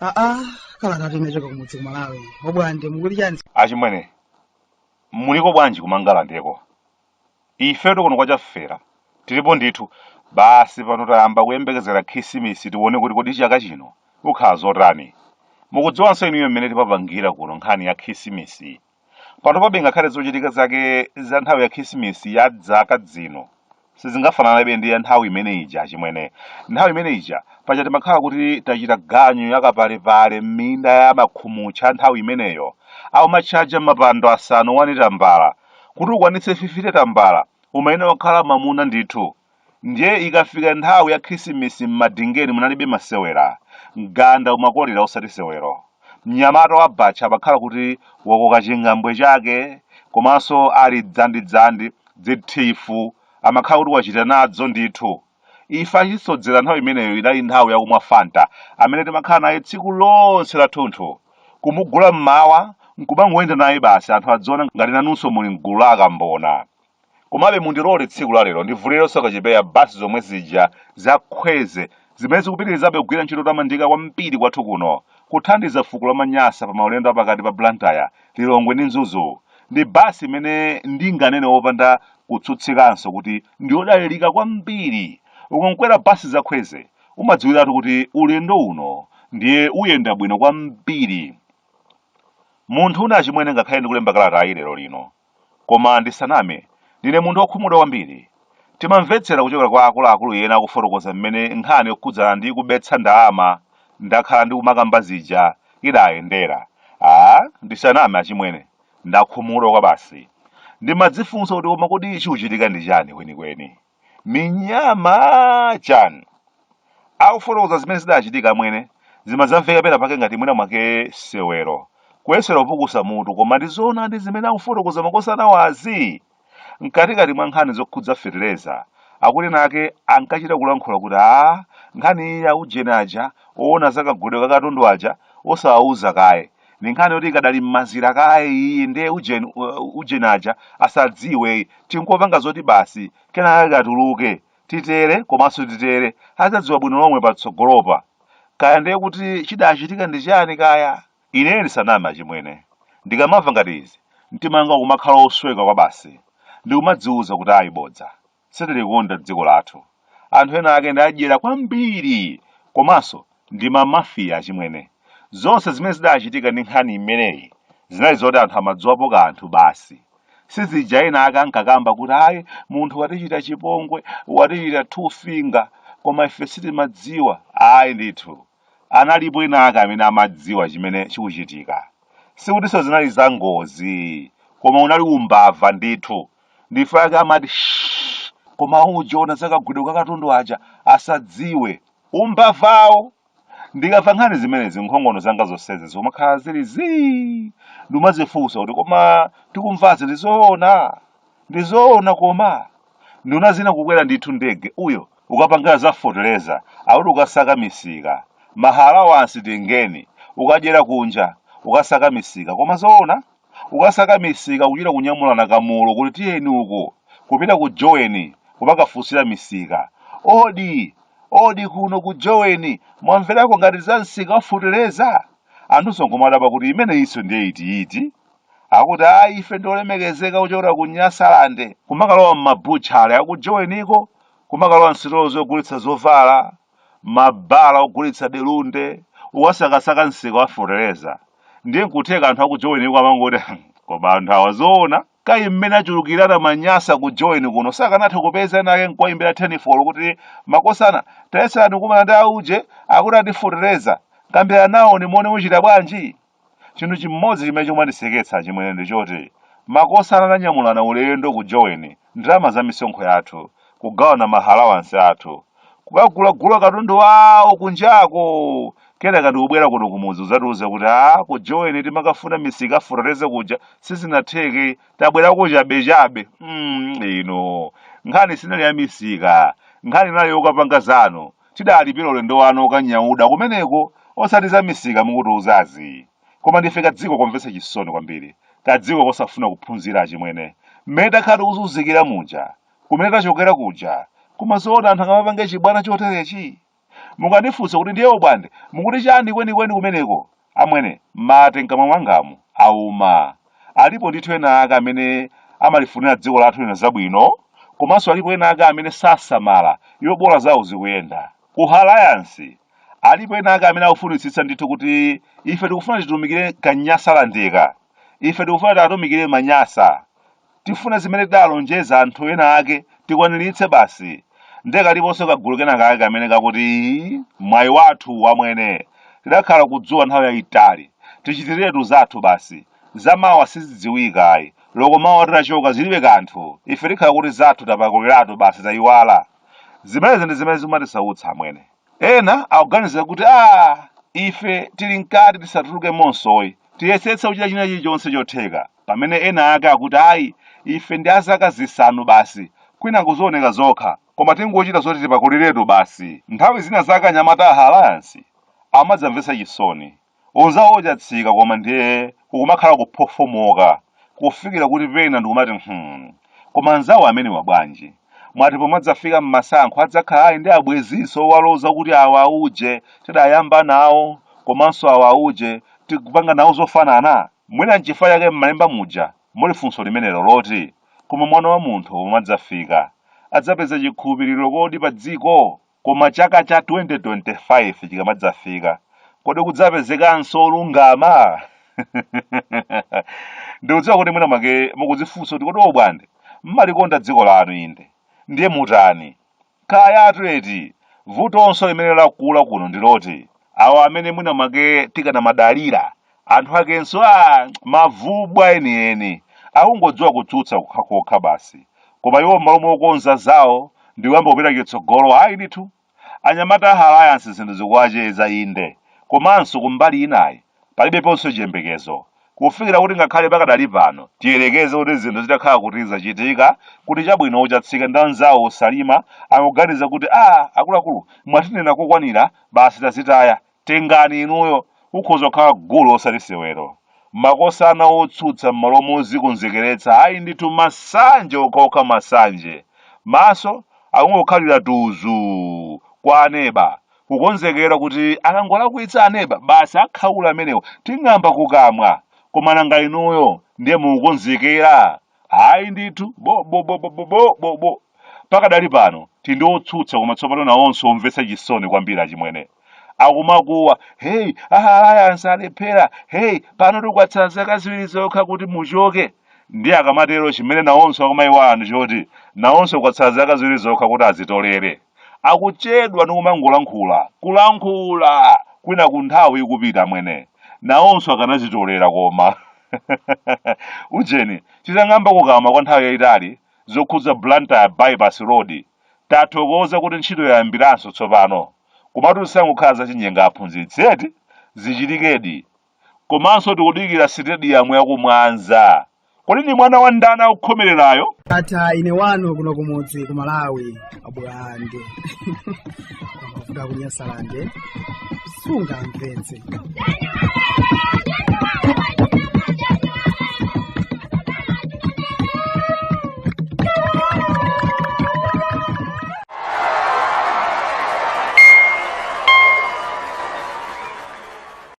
aa kalata yachoka kumudzi kumalawi abwande mukuti chani achimwene muliko bwanji kumangalandeko ife kuno kwa chafera tilipo ndithu basi pano tayamba kuyembekezera khisimisi tione kuti kodi chaka chino kukhala zotani mukudziwanso inuyo mmene timapangira kuno nkhani ya khisimisi pano pabe ngakhale zochitika zake za nthawi ya khisimisi ya dzaka dzino sizingafananabe ndi ya nthawi imene ija achimwene nthawi imene ija paja timakhala kuti tachita ganyu yakapalepale m'minda ya makhumucha nthawi imeneyo aumatchaja mapando asanu wani tambala kuti ukwanitse 50 tambala umayenera wakhala mamuna ndithu ndiye ikafika nthawi ya khisimisi m'madingeni munalibe masewera mganda umakolera osati sewero mnyamata wa batcha amakhala kuti wakoka chingambwe chake komanso ali dzandidzandi dzithifu amakhala kuti wachita nadzo ndithu Ife achisodzera nthawi imeneyo inali nthawi yakumwa Fanta amene timakhala naye tsiku lonse lathunthu. Kumugula m'mawa nkumangoyenda naye basi anthu adziona ngati nanunso muli m'gulu la akambona. Komabe mundilole tsiku la lero ndivulirenso kachipeya basi zomwe zija za khweze zimene zikupitirizabe kugwira ntchito yotamandika kwambiri kwathu kuno, kuthandiza fuko la maNyasa pa maulendo a pakati pa Blantyre, Lilongwe ndi Mzuzu. Ndi basi imene ndinganene wopanda Kutsutsikanso kuti ndiodalilika kwambiri. Ukankwera basi za Khweze umadziwiratu kuti ulendo uno ndiye uyenda bwino kwambiri. Munthune achimwene ngakhale ndikulemba kalatayi lero lino, koma ndisaname, ndine munthu okhumudwa kwambiri. Timamvetsera kuchokera kwa akuluakulu ena akufotokoza mmene nkhani yokhudzana ndi kubetsa ndalama ndakhala ndikumakamba zija idayendera. Aaa, ndisaname achimwene, Ndakhumudwa kwabasi. Ndimadzifunsa kuti koma kodi chikuchitika ndi chani kwenikweni? Minyama! Chani? Akufotokoza zimene zidachitika amwene, zimadzamveka pena pake ngati mwina mwake sewero, kuyesera kupukusa mutu koma ndi zoonadi zimene akufotokoza makosanawazi? Mkatikati mwa nkhani zokhudza fetereza, akuti ena ake ankachita kulankhula kuti aa nkhani iyi ya ujeni aja oona za kagulidwe ka katundu aja osawauza kaye ndi nkhani yoti ikadali m'mazira kaye iyi ndiye ujeni, ujeni aja asadziwe tingopanga zoti basi kenaka katuluke titere komanso titere adzadziwa bwino lomwe patsogolopa kaya ndiye kuti chidachitika ndi chani kaya Ine ndisaname achimwene, ndikamamva ngati izi, mtima wanga ukumakhala osweka kwabasi. Ndikumadziuza kuti ayi bodza. Sitilikonda dziko lathu. Anthu ena ake ndi adyera kwambiri! Komanso ndi ma mafia achimwene. Zonse zimene zidachitika ndi nkhani imeneyi zinali zoti anthu amadziwapo kanthu basi. Sizija ena ake ankakamba kuti ayi munthu watichita chipongwe, watichita two finger, koma ife sitimadziwa. Ayi ndithu. Analipo enaake amene amadziwa chimene chikuchitika. Sikutinso zinali zangozi, koma unali umbava ndithu. Ndife ake amati, Shh! Koma uje ona za kagwidwe ka katundu aja asadziwe. Umbavawo! Ndikamva nkhani zimenezi, nkhongono zanga zonsezi zikumakhala zili zii! Ndikumadzifunsa kuti koma tikumvazi ndi zoona? ndi zoona koma nduna zina kukwera ndithu ndege uyo ukapanga za foteleza akuti ukasaka misika mahalawansi tengeni ukadyera kunja ukasaka misika koma zoona ukasaka misika kuchita kunyamulana kamulo kuti tiyeni uku kupita ku joweni kumakafunsira misika odi odi kuno ku joweni mwamverako ngati za msika wafoteleza anthunso nkumadabwa kuti imeneyinso ndiye itiiti akuti ayi ife ndi olemekezeka kuchokera ku nyasalande kumakalowa m'mabutchale akujoweniko kumakalowa msitolo zogulitsa zovala mabala ogulitsa delunde ukasakasaka msika wa feteleza ndiye nkutheka anthu akujoweniko amangoti koma anthu awa zoona kayi mmene achulukirana manyasa ku joweni kuno sakanatha kupeza enaake nkuwayimbira tenifolo kuti makosana tayesani kumana ndi auje akuti ndi afeteleza kambiranani nawo timuone muchita bwanji Chinthu chimodzi chimene chimandiseketsa achimwene ndi choti makosana ananyamulana ulendo ku Joweni ndalama za misonkho yathu, kugawana ma halawansi athu, kukagulagula katundu wawo kunjako, kenaka ndikubwera kuno kumudzi kudzatiuza kuti aah ku Joweni timakafuna misika ya feteleza kuja sizinatheke tabwerako chabechabe. mm, inu. Nkhani sinali ya misika, nkhani inali yokapanga zanu. Tidalipira ulendo wanu wokanyauda kumeneko osati za misika mukutiuzazi. Koma ndife kadziko komvetsa chisoni kwambiri, kadziko kosafuna kuphunzira achimwene. Mmene takhala tikuzunzikira muja, kumene tachokera kuja, koma zoona anthu angamapange chibwana choterechi? Mungandifunse kuti ndiye obwande mukuti chani kwenikweni kumeneko? Amwene, mate mkamwa mwangamu auma. Alipo ndithu ena ake amene amalifunira dziko lathu lino zabwino komanso alipo ena ake amene sasamala iwo bola zawo zikuyenda. Ku halayansi alipo ena ake amene akufunitsitsa ndithu kuti ife tikufuna titumikire ka Nyasalandeka. ife tikufuna tiatumikire manyasa tifuna zimene tidalonjeza anthu ena ake tikwaniritse basi nde kaliponso kagulu kena kake kamene kakuti "Ii, mwayi wathu wamwene tidakhala kudzuwa nthawi yayitali tichitiretu zathu basi zamawa sizidziwika ayi loko mawa titachoka zilibe kanthu ife tikhala kuti zathu tapakuliratu basi tayiwala zimenezi ndi zimene zimatisautsa amwene Ena akuganiza kuti, Ah, ife tili mkati tisatulukemonso ayi. Tiyesetsa kuchita china chilichonse chotheka. Pamene ena ake akuti, Ayi, ife ndi a zaka zisanu basi. Kwinaku zioneka zokha. Koma tingochita zoti tipakuliretu basi. Nthawi zinazake anyamata a Halayansi amadzamvetsa chisoni. Onzawo Ochatsika koma ndiye kukumakhala kuphofomoka kufikira kuti pena ndikumati hmm koma anzawo amenewa bwanji? Mwati pomadzafika mmasankho adzakhala ali ndi abwenzinso owaloza kuti awa auje tidayamba nawo komanso awa auje tikupanga nawo zofanana? Mwina nchifukwa chake mmalemba muja muli funso limenelo loti koma mwana wa munthu pomadzafika adzapeza chikhulupiriro kodi padziko? Koma chaka cha 2025 chikamadzafika, kodi kudzapezekanso olungama? Ndikudziwa kuti mwina mwake mukudzifunsa kuti kodi obwande mmalikonda dziko lanu inde ndiye mutani? Kayatu eti vutonso limene lakula kuno ndi loti awo amene mwina mwake tikanamadalira anthu akenso aa mavubwa enieni akungodziwa kutsutsa kokhakokha basi koma iwo m'malo mokonza zawo ndikuyamba kupita chitsogolo ayi ndithu anyamata a halayansi zinthu zikuwacheza inde komanso kumbali inayi palibeponso chiyembekezo kufikira kuti ngakhale pakadali pano tiyerekeze kuti zinthu zitakhala kuti zachitika kuti chabwino ochatsika ndi anzawo osalima akuganiza kuti a akuluakulu mwatinena kokwanira basi tazitaya tengani inuyo ukhoza kukhala gulu osati sewero makosana otsutsa m'malo mozikonzekeretsa ayi ndithu masanje okhaokha masanje maso akungokhalira tuzuu kwa aneba kukonzekera kuti akangolakwitsa aneba basi akhaula amenewo ting'amba kukamwa koma nanga inuyo ndiye mukukonzekera ayi ndithu bo bo bo bo bo bo bo bo pakadali pano tili ndi otsutsa koma tsopano nawonso omvetsa chisoni kwambiri achimwene akumakuwa heyi a halayansi alephera heyi panotu kwatsala zaka ziwiri zokha kuti muchoke ndiye akamatero chimene nawonso akumaiwala ndi choti nawonso kwatsala zaka ziwiri zokha kuti azitolere akuchedwa ndi kumangolankhula kulankhula kwinaku nthawi ikupita amwene nawonso akanazitolera koma ujeni titang'amba kukamwa kwa nthawi yayitali zokhudza blantyre bypass road tathokoza kuti ntchito yayambiranso tsopano komatu zisangokhala zachinyenga aphunzitsi eti zichitikedi Komanso tikudikira sitediyamu ya ku Mwanza. Kodi ndi mwana wa ndani akukhomererayo? Ndatha ine wanu kuno kumudzi ku Malawi Abulande kuda ku Nyasalande sungamvetse